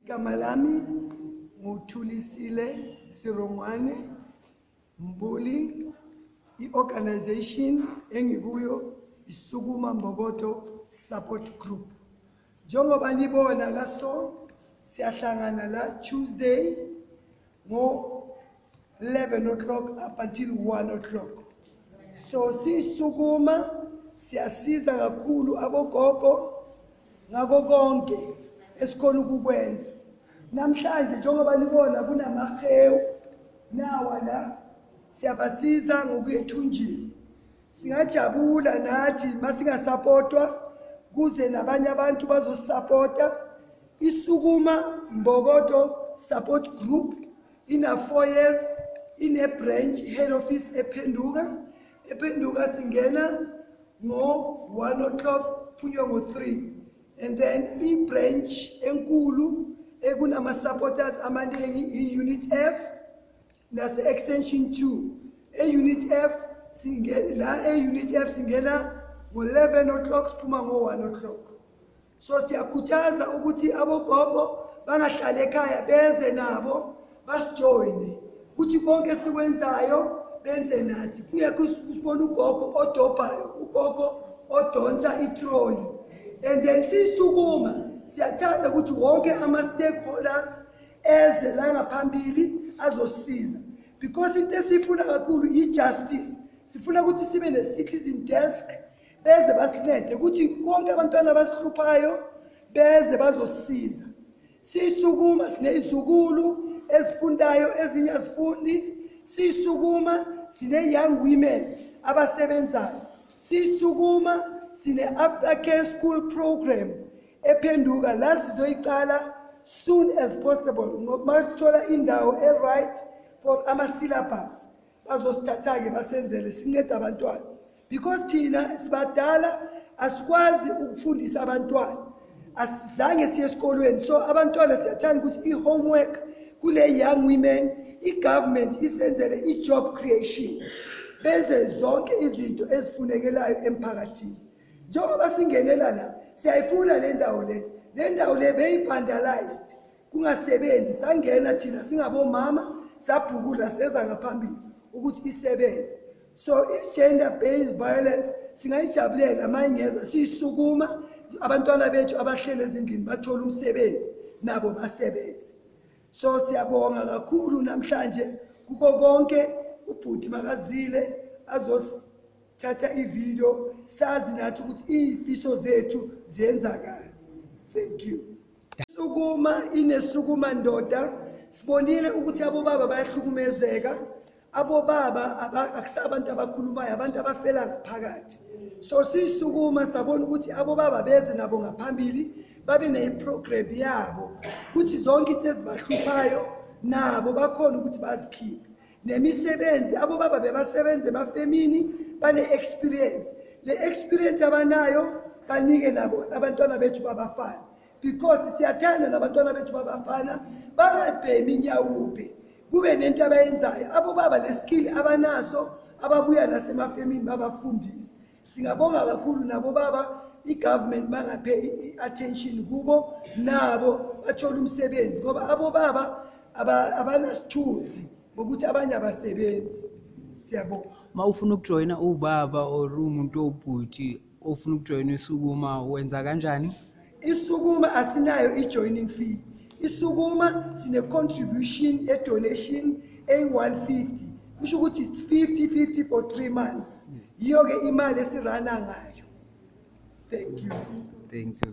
igama lami nguthulisile sirongwane Mbuli, i-organization engikuyo isukuma Mbokodo Support Group. Njengoba nibona la so siyahlangana la Tuesday ngo 11 o'clock up until 1 o'clock. So sisukuma siyasiza kakhulu abogogo ngako konke esikhona ukukwenza Namhlanje njengoba nibona kunamahewu nawa la siyabasiza ngokuya ethunjini singajabula nathi masingasapotwa kuze nabanye abantu bazosisapota isukuma mbokodo support group ina-four years ine-branch head office ephenduka ephenduka singena ngo-one o'clock phunywe ngo-three and then i-branch enkulu ekunama-supporters amaningi i-unit f nase-extension 2 e-unit f la e-unit f singena ngo-11 o'clock siphuma ngo-1 o'clock so siyakhuthaza ukuthi abogogo bangahlali ekhaya beze nabo basijoyine kuthi konke esikwenzayo benze nathi kungekho usibona ugogo odobhayo ugogo odonsa itroli and then sisukuma siyathanda ukuthi wonke ama-stakeholders eze la ngaphambili azosiza because into esiyifuna kakhulu yi-justice sifuna ukuthi sibe ne-citizen desk beze basincede ukuthi konke abantwana abasihluphayo beze bazosiza sisukuma sineyizukulu ezifundayo ezinye azifundi sisukuma sine-young women abasebenzayo sisukuma sine-after care school program ephenduka la sizoyiqala soon as possible uma sithola indawo e-right for ama-syllabus bazosithatha-ke basenzele sincede abantwana because thina sibadala asikwazi ukufundisa abantwana asizange siye esikolweni so abantwana siyathanda ukuthi i-homework kule young women i-government isenzele i-job creation benze zonke izinto ezifunekelayo emphakathini njengoba singenela la siyayifuna le ndawo le le ndawo le beyi-vandalized kungasebenzi sangena thina singabomama sabhukula seza ngaphambili ukuthi isebenze so i-gender based violence singayijabulela uma ingeza siyisukuma abantwana bethu abahlele ezindlini bathole umsebenzi nabo basebenze so siyabonga kakhulu namhlanje kuko konke ubhuti makazile azosithatha ividiyo sazi nathi ukuthi iy'fiso zethu ziyenzakala thank you Sukuma inesukuma ndoda sibonile ukuthi abobaba bayahlukumezeka abobaba akusabantu abakhulumayo abantu abafela ngaphakathi so sisukuma sabona ukuthi abobaba beze nabo ngaphambili babe neyiprogram yabo ukuthi zonke into ezibahluphayo nabo bakhona ukuthi bazikhiphe nemisebenzi abobaba bebasebenze emafemini bane-experience le experience abanayo banike nabo abantwana bethu babafana because siyathanda nabantwana bethu babafana bangabhemi inyawubhe kube nento abayenzayo abobaba le skill abanaso ababuya nasemafemini babafundise singabonga kakhulu nabo baba i-government bangaphe i-attention kubo nabo bathole umsebenzi ngoba abobaba abanasithunzi ngokuthi abanye abasebenzi siyabonga uma ufuna ukujoyina ubaba or umuntu owubhuti ofuna ukujoyina isukuma wenza kanjani isukuma asinayo i-joining fee isukuma sine-contribution e-donation eyi-150 kusho ukuthi it's 50 50 for three months yiyo-ke imali esirana ngayo thank you thank you